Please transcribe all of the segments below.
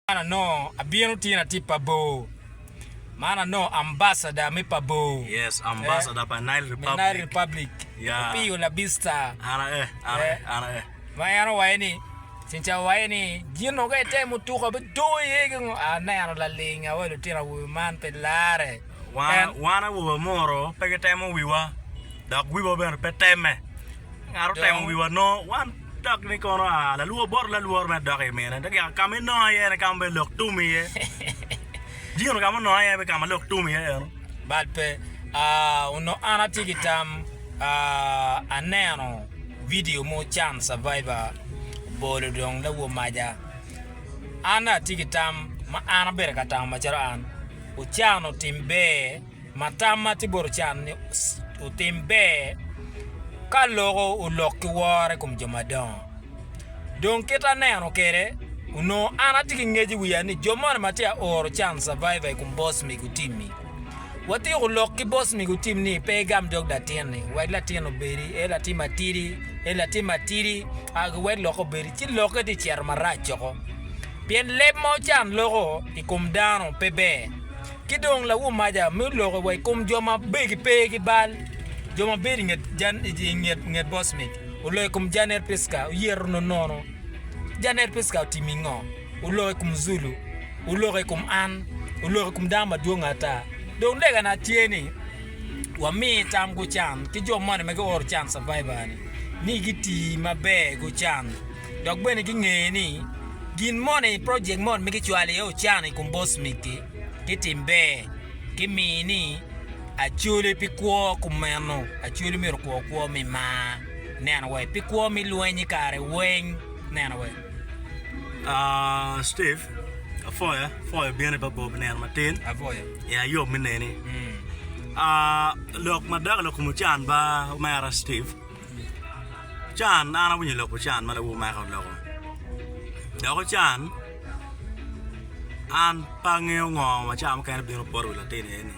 Man anongo abino tye na tye pa bor. Man anongo ambassador me pa bor. Yes, ambassador pa Nile Republic. Me Nile Republic. Yeah. Opiyo Labista. Ana e, ana e, ana e. Ma en owaye ni, cinca owaye ni, gin oge te mutuka bidongo iye ki ngo. Aneno laling awa lutino awobe man pe lare. Wan awobe amuru pe gitemo wiwa, dok wiwa bene pe temme. Ngat otemo wiwa nongo wan dok ni kono aa lalwor bot lalwor mere dok i mine. Dok yaka ka ma inonga iye ni ka ma bene lok tum iye. Dino ka ma ononga iye bene ka ma lok tum iye eno. Bad pe. Aa, onongo an atye ki tam, aa, aneno vidio mo can Survivor obolo dong lawo maja. An dong atye ki tam ma an abedo ka tamo macalo an. ocano tim ber ma tamma tye bot ocano ni otim ber ka loko olok ki woro i kom jo madongo dong kit aneno kwede onongo an atye ki ngec i wiya ni jo moni ma tye ka oro can survivor i kom boss mego otim-mi watyeko lok ki boss mego otim ni pe igam dog latinni wek latin obedi en latin matidi en latin matidi wek lokke obedi ci lokke tye ka cito marac woko. Pien leb ma ocan loko i kom dano pe ber, ki dong lawomaca me loko wa i kom jo ma begi pe ki bal. Jo ma bedo i nget bocmit oloko i kom Janet Pritzker, oyeto nonono. Janet Pritzker otimo i ngo? Oloko i kom Zulu, oloko i kom an, oloko i kom dano madwong ata. Dong legana tye ni wami tam gucan ki jo moni ma gioro can survivor-ni ni giti maber gucan. Dok bene gingeyo ni gin moni i projek moni ma gicwalo iye ocana i kom bos miti ki tim ber ki miyo ni Acholi pi kwo kumeno Acholi myero okwo kwo me mar neno wek pi kwo me lweny i kare weng neno wek Steve Apoya Apoya bino i Babob nino matin Apoya i ayob me neni lok ma dako lok kom ocan ba omera Steve. Can, an awinyo lok pi can ma lawu omaka oloko. Dok i can, an pe angeyo ngo ma cawa mukene bino poto wi latin eni.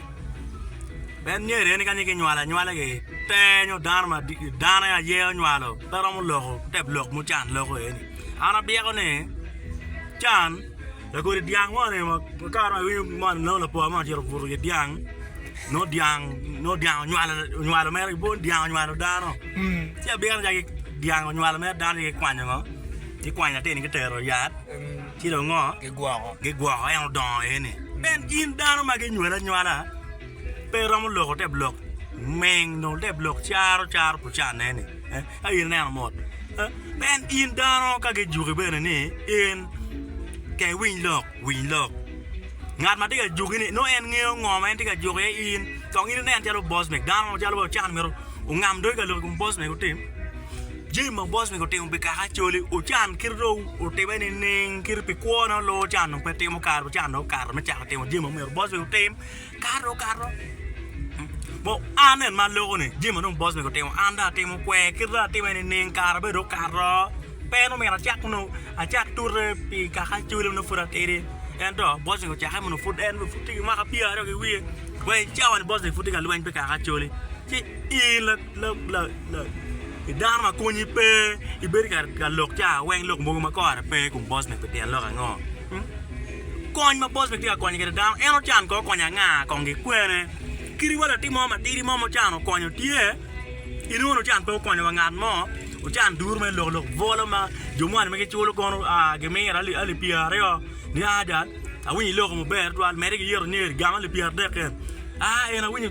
Ben myero eni kanya kinywale anywala gi ter nyo dano ma dano aye onywalo pe romo loko te lok ma can loko eni. An abyeko ni can Lakodi dyang mo ni kare ma iwinyo moni nongo lapwa moni ocito obuto i wi dyang nongo dyang nongo dyang onywalo onywalo mere bot dyang onywalo dano ci abino calo dyang onywalo mere dano ci kikwanyo ngo kikwanyo latin-ni kitero i yat ci dong ngo kigwoko kigwoko en odongo iye ni en in dano ma ginywali anywala pe iromo loko te bulok ming dong te bulok caro caro bucanne ni Ka in ineno mot, en in dano ka gijuki bene ni in ke iwiny lok, winy lok. Ngat ma tye ka juki ni nongo en ngeyo ngo ma en tye ka juko iye in, dok in inen calo boss man, dano mo calo Ochan omyero ongam doge ka lok i kom boss man otim jami ma boss man otimo pi kaka Acholi. Ochan kite dong otime nining kit pi kwo ne oluwo Ochan dong pe timo kare Ochan dong okato me cako timo jami ma omyero boss man otim. Kato kato bo an en ma loko ni jami ma dong boss mego otimo an dong atimo kwer kit ma atime ni ning kara bene dong okato pe en omyero acak nongo acak tute pi kaka acholi ma nongo pud atidi ento boss mego ocake mono pud en bene pud tye ki mwaka pyeraryo ki wiye wa i cawa ni boss mego pud tye ka lweny pi kaka acholi ci in Dano ma konyi pe, ibedo ka lok ca weng lok mogo ma kore pe i kom boss man pi tyen lok ango? Kony ma boss man tye ka konyo kwede dano en ocan kong okonyo anga kong gikwene? Kadi wa latin mo matidi mo ma ocan okonyo tye, in mono ocan pe okonyo wa ngat mo, ocan duru mere lok lok bwolo ma jo moni ma giculo kono gimiro alip pyeri aryo ni ada, awinyo iloko maber tutwal mede giyito nyo eri gamo alip pyeri adek kene, aa en awinyo